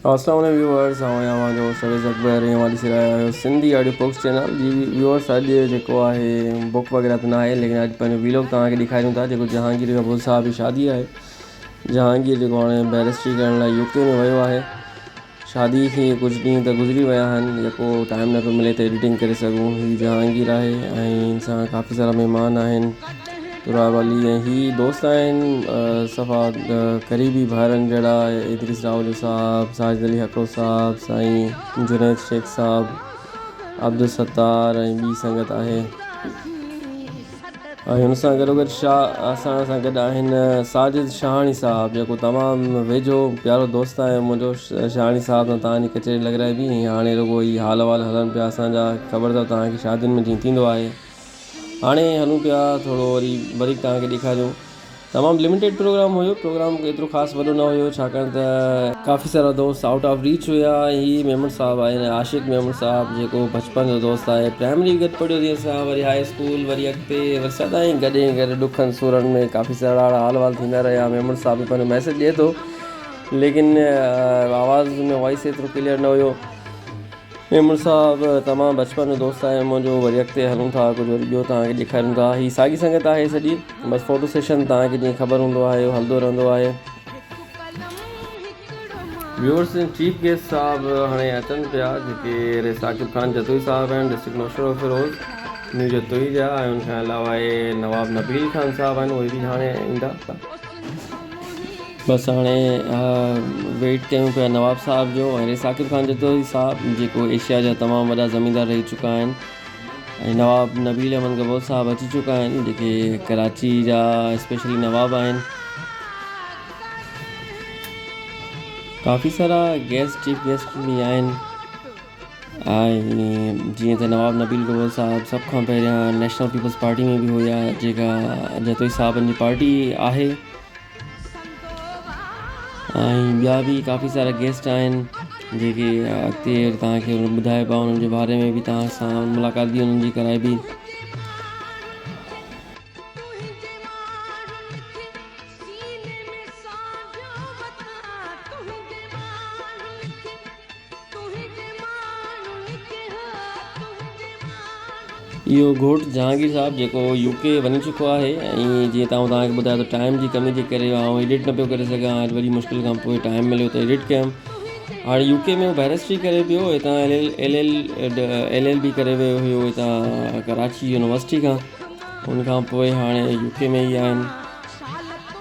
اسلام عليڪم ويوئرز اوهان ۽ اوهان جو هوسٽ عويس اڪبر ۽ اوهان ڏسي رهيا آهيو سنڌي آڊيو بڪس چينل جي ويوئرز اڄ جيڪو آهي بڪ وغيره ته ناهي ليڪن اڄ پنهنجو ويلوگ توهان کي ڏيکاريون ٿا جيڪو جهانگير ڪپور صاحب جي شادي آهي جهانگير جيڪو هاڻي بيرسٽري ڪرڻ لاء يو ڪي ۾ ويو آهي شادي کي ڪجهه ڏينهن ته گذري ويا آهن جيڪو ٽائم نه پيو ملي ته ايڊيٽنگ ڪري سگهون هي جهانگير آهي ۽ هن سان ڪافي سارا مهمان آهن راء والي ۽ هي دوست آهن صفا قريبي ڀائرن جهڙا ادريس راهوجو صاحب، ساجد علي هڪڙو صاحب، سائين جنيد شيخ صاحب، عبدالستار ۽ ٻي سنگت آهي ۽ هن سان گڏوگڏ شاهه اسان سان گڏ آهن ساجد شاهاڻي صاحب جيڪو تمام ويجهو پيارو دوست آهي منهنجو شاهاڻي صاحب سان توهان جي ڪچهري لڳرائبي ۽ هاڻي رڳو هي حال احوال هلن پيا اسان جا خبر اٿو توهان کي شادين ۾ جيئن ٿيندو آهي هاڻي هلون پيا ٿورو وري بريڪ توهان کي ڏيکاريون تمام لميٽيڊ پروگرام هيو پروگرام ايترو خاص وڏو نه هيو ڇاڪاڻ ته ڪافي سارا دوست آئوٽ آف ريچ هيا هي ميمڻ صاحب آهن عاشق ميمڻ صاحب جيڪو بچپن جو دوست آهي پرائمري گڏ پڙهيو سين سان وري هاء اسڪول وري اڳتي وري سدائين گڏ ۽ گڏ ڏکن سورن ۾ ڪافي سارا حال وال ٿيندا رهيا ميمڻ صاحب پنهنجو ميسيج ڏئي ٿو ليڪن آواز ۾ وائس ايترو ڪليئر نه هيو ميمڻ صاحب تمام بچپن جو دوست آهي منهنجو وري اڳتي هلون ٿا ڪجهه وري ٻيو توهان کي ڏيکاريون ٿا هي ساڳي سنگت آهي سڄي بس فوٽو سيشن توهان کي جيئن خبر هوندو آهي اهو هلندو رهندو آهي. ويورس ۽ چيف گيسٽ صاحب هاڻي اچن پيا جيڪي اهي ثاقب خان جتوئي صاحب آهن ڊسٽرڪٽ نوشهروفيروز نيو جتوئي جا ۽ ان کان علاوه اهي نواب نبيل خان صاحب آهن اهي به هاڻي ايندا. بس هاڻي ويٽ ڪيون پيا نواب صاحب جو ۽ ثاقب خان جتوئي صاحب جيڪو ايشيا جا تمام وڏا زميندار رهي چڪا آهن ۽ نواب نبيل احمد گبو صاحب اچي چڪا آهن جيڪي ڪراچي جا اسپيشلي نواب آهن ڪافي سارا گيسٽ چيف گيسٽ به آهن ۽ جيئن ته نواب نبيل گرو صاحب سڀ کان پهريان نيشنل پيپلز پارٽي ۾ به هيا جيڪا جتوئي صاحبن جي پارٽي آهي ۽ ٻيا بي ڪافي سارا گيسٽ آهن جيڪي اڳتي توهان کي ٻڌائبا انهن جي باري ۾ به توهان سان ملاقات به انهن جي ڪرائبي اهو گهوٽ جهانگير صاحب جيڪو يو ڪي وڃي چڪو آهي ۽ جيئن توهان توهان کي ٻڌايو ته ٽائيم جي ڪمي جي ڪري آئون ايڊٽ نه پيو ڪري سگهان اڄ وڏي مشڪل کان پوء ٽائيم مليو ته ايڊٽ ڪيم هاڻي يو ڪي ۾ هو بئرسٽري ڪري پيو هتان L L L L L B ڪري ويو هيو هتان ڪراچي يونيورسٽي کان ان کان پوء هاڻي يو ڪي ۾ ئي آهن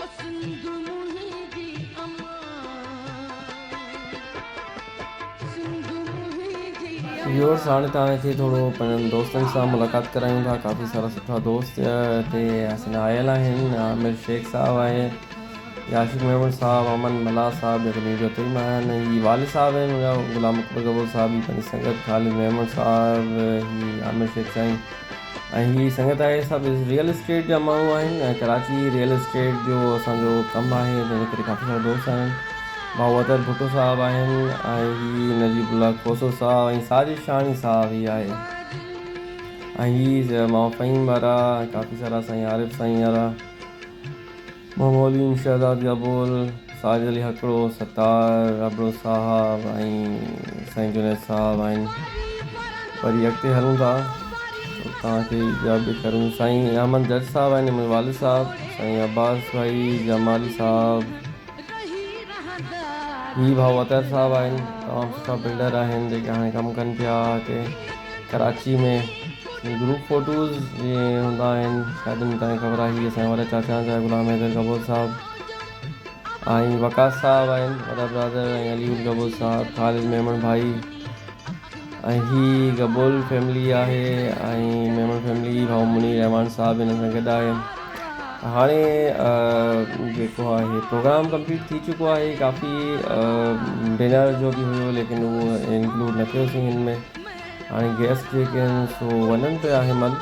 او سنڌ منهنجي امان. ويورز هاڻي توهان کي ٿورو پنهنجن دوستن سان ملاقات ڪرايون ٿا ڪافي سارا سٺا دوست هتي حسن آيل آهن عامر شيخ صاحب آهي هي عاشق ميمڻ صاحب امن ملاح صاحب جيڪي مير جو تيم آهن هي والد صاحب آهن هيا غلام اڪبر گبو صاحب هي پنهنجي سنگت خالد ميمڻ صاحب هي عامر شيخ سائين ۽ هي سنگت آهي سا به ريئل اسٽيٽ جا ماڻهو آهن ۽ ڪراچي ريئل اسٽيٽ جو اسان جو ڪم آهي جنهن جي ڪري ڪافي سارا دوست آهن ڀائو اطهر ڀٽو صاحب آهن ۽ هي نجيب الله کوسو صاحب ۽ ساجد شاهاڻي صاحب هي آهي ۽ هي ماما فهيم وارا ڪافي سارا سائين عارف سائين وارا ممولين شهزاد گبول، ساجد علي هڪڙو، ستار ابڙو صاحب ۽ سائين جنيد صاحب آهن پر هي اڳتي هلون ٿا ته توهان کي ٻيا به ڪرون سائين احمد جج صاحب آهن منهنجي والد صاحب سائين عباس ڀائي جمالي صاحب هي ڀائو اطهر صاحب آهن تمام سٺا بلڊر آهن جيڪي هاڻي ڪم ڪن پيا هتي ڪراچي ۾ گروپ فوٽوز جي هوندا آهن شايدن تائين خبر آهي هي اسان جا وڏا چاچا آهن سائين غلام حيدر گبوز صاحب ۽ وقاص صاحب آهن وڏا برادر ۽ علي گل گبوز صاحب خالد ميمڻ ڀائي ۽ هي گبول فيملي آهي ۽ ميمڻ فيملي ڀاء منير رحمان صاحب هن سان گڏ آهي هاڻي جيڪو آهي پروگرام ڪمپليٽ ٿي چڪو آهي ڪافي ڊنر جو بي هيو ليڪن انڪلوڊ نه ٿيو سين ۾ هاڻي گيسٽ جيڪي آهن سو وڃن پيا هيمل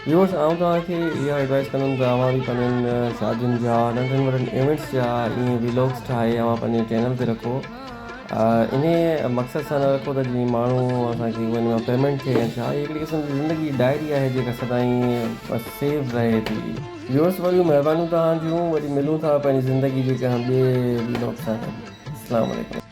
ويورس آئون توهان کي اها ايڊوائس ڪندم ته اوهان به پنهنجن شادين جا ننڍن وڏن ايونٽس جا ائين ويلوگس ٺاهي اوهان پنهنجي چينل تي رکو ان مقصد سان نه رکو ته جيئن ماڻهو اسان کي ان مان پيمنٽ ٿئي ڇا هي هڪڙي قسم جي زندگي ڊائري آهي جيڪا سدائين بس سيو رهي ٿي ويورس وڏيون مهربانيون توهان جون وري ملون ٿا پنهنجي زندگي جي ڪنهن ٻئي ويلوگ سان السلام عليڪم